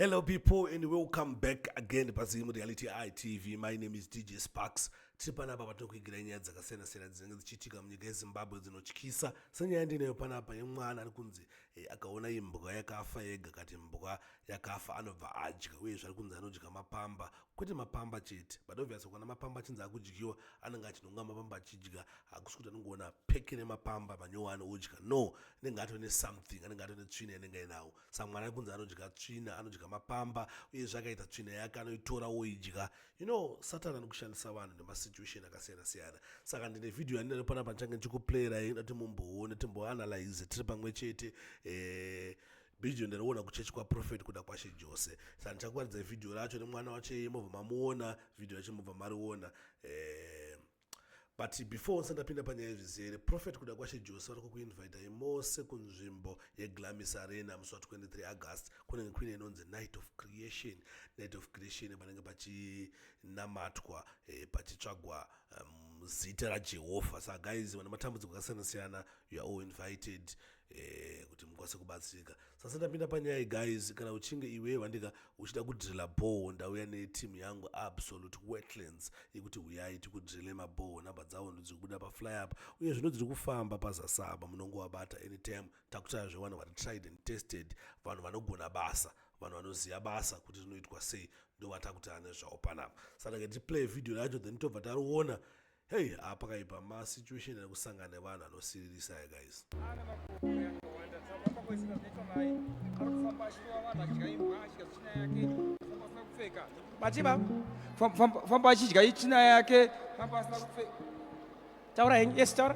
Hello people and welcome back again paZim Reality Eye TV. My name is DJ Sparks. Tiri panapa patinokuigira nyaya dzakasiyana siyana dzinenge dzichiitika munyika yeZimbabwe dzinotyisa senyaya ndinayo panapa yemwana ari kunzi eh, akaona imbwa yakafa yega kati mbwa yakafa anobva adya uye zvari kunzi anodya mapamba kwete mapamba chete but obvious ukana mapamba achinzi akudyiwa anenge achinonga mapamba achidya hakusi kuti anongoona peke nemapamba manyowani odya no anenge atone something anenge atone tsvina yanenge ainawo samwana kunzi anodya tsvina anodya mapamba uyezve akaita tsvina yake anoitora woidya you know satani anokushandisa vanhu nemasituation akasiyana siyana saka ndine vhidhiyo yandinayo pana pandichange ndichikuplayirai ina timumboone timboanalyze tiri pamwe chete eh, bhidhiyo ndariona kuchechi kwaprofeti kuda kwashe jose sa ndichakuratidza vhidhiyo racho nemwana wache mobva mamuona vhidhiyo racho mobva mariona eh, but before onse ndapinda panyaya yezvizere prophet kuda kwashe jose vari kukuinvitai mose kunzvimbo yeglamis arena musi wa23 august kunenge kuine inonzi night of creation night of creation panenge pachinamatwa eh, pachitsvagwa um, zita rajehovha sa guys vana matambudziko akasiyana-siyana youare all invited Eh, kuti mukwanise kubatsirika sasa ndapinda panyaya guys kana uchinge iwe vandika uchida kudrila bhoho ndauya netimu yangu absolute wetlands yekuti huyai tikudrile mabhoho nhamba dzavo ndodzi kubuda paflyup uye zvino dziri kufamba pazasaba munongovabata anytime takutaya zvevanhu vari tried and tested vanhu vanogona basa vanhu vanoziva basa kuti rinoitwa sei ndovatakuti ane zvavo panapa saka tiplay video racho then tobva tariona Hey, ah, pakaipa ma situation ari kusangana nevanhu anosiririsa aya guys. Bachiba, famba achidya ichina yake. Taura hengi, yes taura.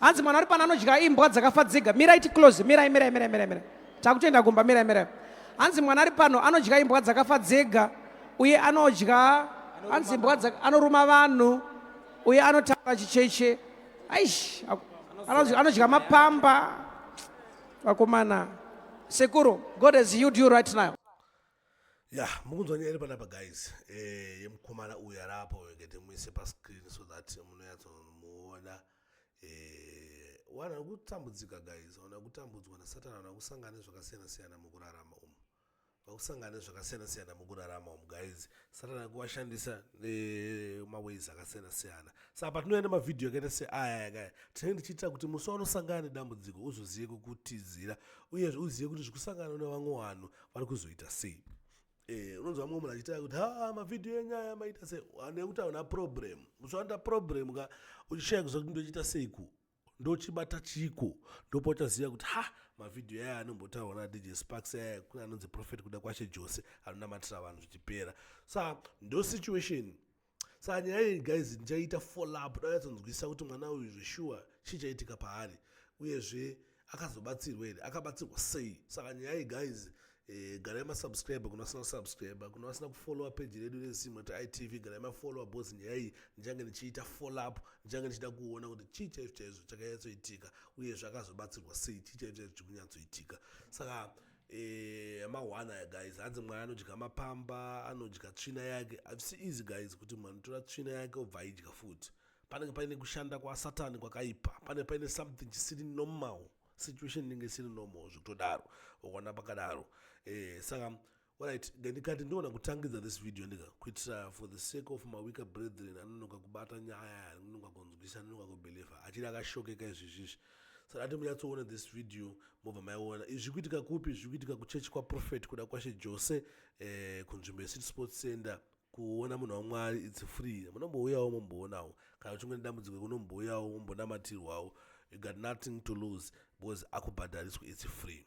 hanzi mwana ari pano anodya imbwa dzakafa dzega mirai ticlose mirai mirai mirai mirai mirai takutoenda kumba mirai mirai hanzi mwana ari pano anodya imbwa dzakafa dzega uye anodya hanzi imbwa anoruma vanhu uye anotaura chicheche aish anodya mapamba vakomana sekuru god has healed you right now ya mukunzwa nyaya iri panapa guys eh, yemukomana uyu arapo ngete muise pascreen so that munoyatsomuona Eh, wana kutambudzika guys wana kutambudzwa nasatani wana kusangana nezvakasiyana siyana mukurarama umu vakusangana nezvakasiyana siyana mukurarama umu guys satani akuwashandisa eh, maways akasiyana siyana saka patinoenda mavhidhiyo akaita seaya yakaya tinenge tichiitira kuti musi wanosangana nedambudziko uzozive kukutizira uyezve uzive kuti zvikusangana nevamwe vanhu vari kuzoita sei Eh, unonzwa mumwe munhu achitaura kuti ha mavhidhiyo enyaya maita sei nekuti hauna problem uchiwanda problem ka uchishaya kuziva kuti ndochiita seiku ndochibata chiko ndopa uchaziva kuti ha mavhidhiyo aya anombotaurwa nadj sparks aya kune anonzi profet kuda kwashe jose anonamatira vanhu zvichipera sa ndo situation saka nyaya iyi guys ndichaita follup ndayatsonzwisisa kuti mwana uyu zveshuwa chii chaitika paari uyezve akazobatsirwa here akabatsirwa sei saka nyaya iyi guys eh, garai masubscribe kuna vasina kusubscribe kuna vasina kufollowa peji redu resimwe ti itv garai mafollowa bcause nyaya iyi ndichange ndichiita follup ndichange ndichida kuona kuti chii chaizvo chaizvo chakanyatsoitika uyezve akazobatsirwa sei chii chaizvo chaizvo chikunyatsoitika saka so, Eh, mahwana aya guys hanzi mwana anodya mapamba anodya tsvina yake havisi easy guys kuti munhu anotora tsvina yake obva aidya futi panenge paine kushanda kwasatani kwakaipa pane paine something chisiri normal situation inenge isiri normal zvekutodaro ukaona pakadaro eh, saka Alright, ndikati ndiona kutangidza this video ndika kuitira for the sake of my weaker brethren anonoka kubata nyaya anonoka kunzwisa anonoka kubelieve achiri akashokeka izvizvizvi saka ati munyatsoona this video mobva maiona izvi zviri kuitika kupi zviri kuitika kuchechi kwaprofet kuda kwashe jose eh, kunzvimbo yecity sports center kuona munhu wamwari its free munombouyawo momboonawo kana uchinge nedambudziko kunombouyawo mombonamatirwawo you got nothing to lose because akubhadhariswa its free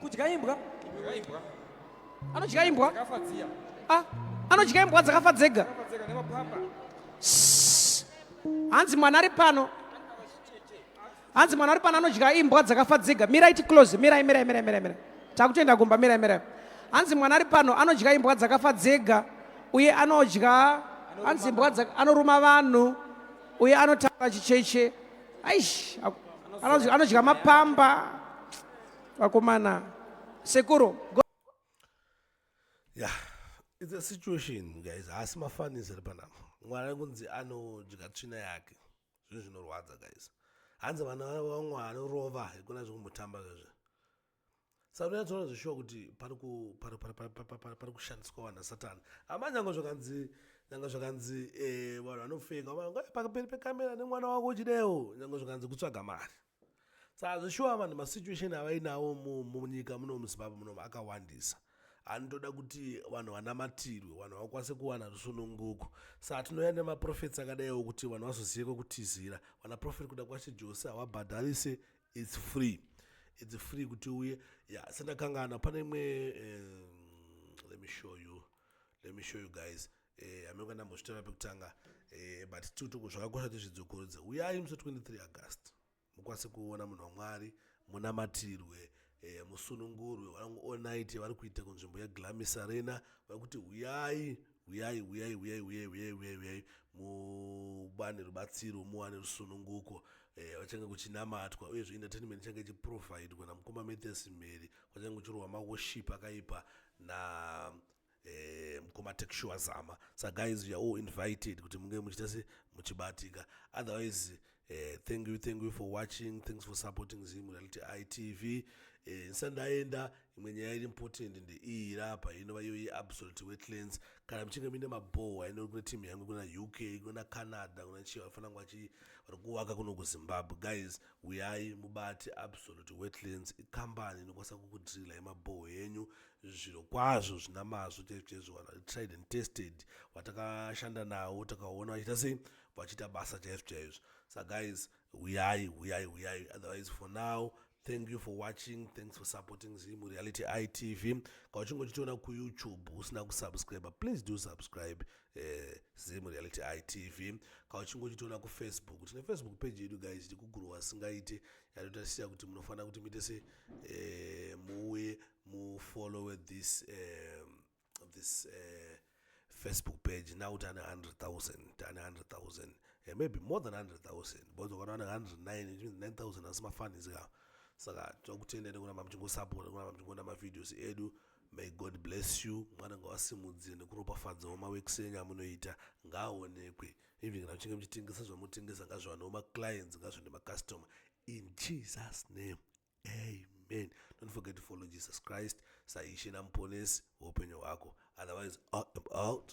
kudya imbwa anodya imbwa ah, anodya imbwa dzakafa dzega hanzi mwana ari pano hanzi mwana ari pano anodya imbwa dzakafa dzega mirai ticlose mirai mirai mirai mirai mirai takutoenda kumba mirai mirai hanzi mwana ari pano anodya imbwa dzakafa dzega uye anodya hanzi imbwa anoruma vanhu uye anotaura chicheche aish anodya mapamba vakomana sekuru yeah it's a situation guys haasi mafanisi ari panapa mwari kunzi anodya tsvina yake zvinhu zvinorwadza guys hanzi vana vamwari rova hekuna zvekumbotamba zvezve saka unonyatsoona zveshuwa kuti pari kushandiswa vanhu asatani hama nyanga zvakanzi nyanga zvakanzi eh, vanhu vanofeka eh, pakaperi pekamera nemwana wako uchidewo nyanga zvakanzi kutsvaga mari saka zveshuwa vanhu masituation avainawo munyika muno muzimbabwe munomu akawandisa anotoda kuti vanhu vanamatirwe vanhu vakwanise kuwana rusununguko saa tinouya nemaprofeti akadaiwo kuti vanhu vazoziyeko kutizira vanaprofeti kuda kwashe jose havabhadharise its free its free kuti uye ya sendakangana pane imwe um, let me show you let me show you guys eh, amenge ndambozvitaura pekutanga eh, but tiutuku zvakakosha kuti zvidzokudze uyai musi 23 august mukwanise kuona munhu wamwari munamatirwe eh, musunungurwe vangu all night vari kuita kunzvimbo yeglamis arena vari kuti huyai huyai huyai huyai huyai huyai huyai huyai mubane rubatsiro muwane rusununguko eh, vachange eh, kuchinamatwa uyezve entertainment ichange ichiprovidwa namukoma mathes mheri kwachange kuchirwa maworship akaipa na eh, mukoma texua zama sa guys you're all invited kuti munge muchita se muchibatika otherwise Eh, thank you thank you for watching thanks for supporting zim reality itv eh, ndisati ndaenda imwe nyaya iri important ndeiyi rapa inova iyo yeabsolute wetlands kana muchinge muine mabhowa ino kune team yangu kuna uk kuna canada kuna chii vafana ngwachi vari kuvaka kuno kuzimbabwe guys uyai mubati absolute wetlands ikambani inokwanisa kukudrila yemabhoho yenyu zviro kwazvo zvina mazvo chaizvo chaizvo tried and tested vatakashanda nawo takaona vachiita sei vachiita basa chaizvo chaizvo sa guys huyai huyai huyai otherwise for now thank you for watching thanks for supporting zimu reality itv ka uchinge uchitiona kuyoutube usina kusubscribe please do subscribe uh, eh, zimu reality itv ka uchinge uchitiona kufacebook tine facebook page yedu guys iti kuguru wasingaite yatotasira kuti munofanira kuti muite se uh, muuye mufollowe this um, this uh, facebook page now tane 100000 tane 100000 yeah, eh, maybe more than 100000 because ukaona ane 109 it means 9000 asi mafanis ka saka tokutendeni kuna mamuchingosapota kuna mamuchingoona mavideos edu may god bless you mwana ngawasimudzire nekuropafadzawo maweeks enyu amunoita ngaaonekwe even kana muchinge muchitengesa zvamutengesa ngazviwanewo maclients ngazvende macustomer in jesus name amen don't forget to follow jesus christ saishe namuponesi weupenyu hwako otherwise out, out.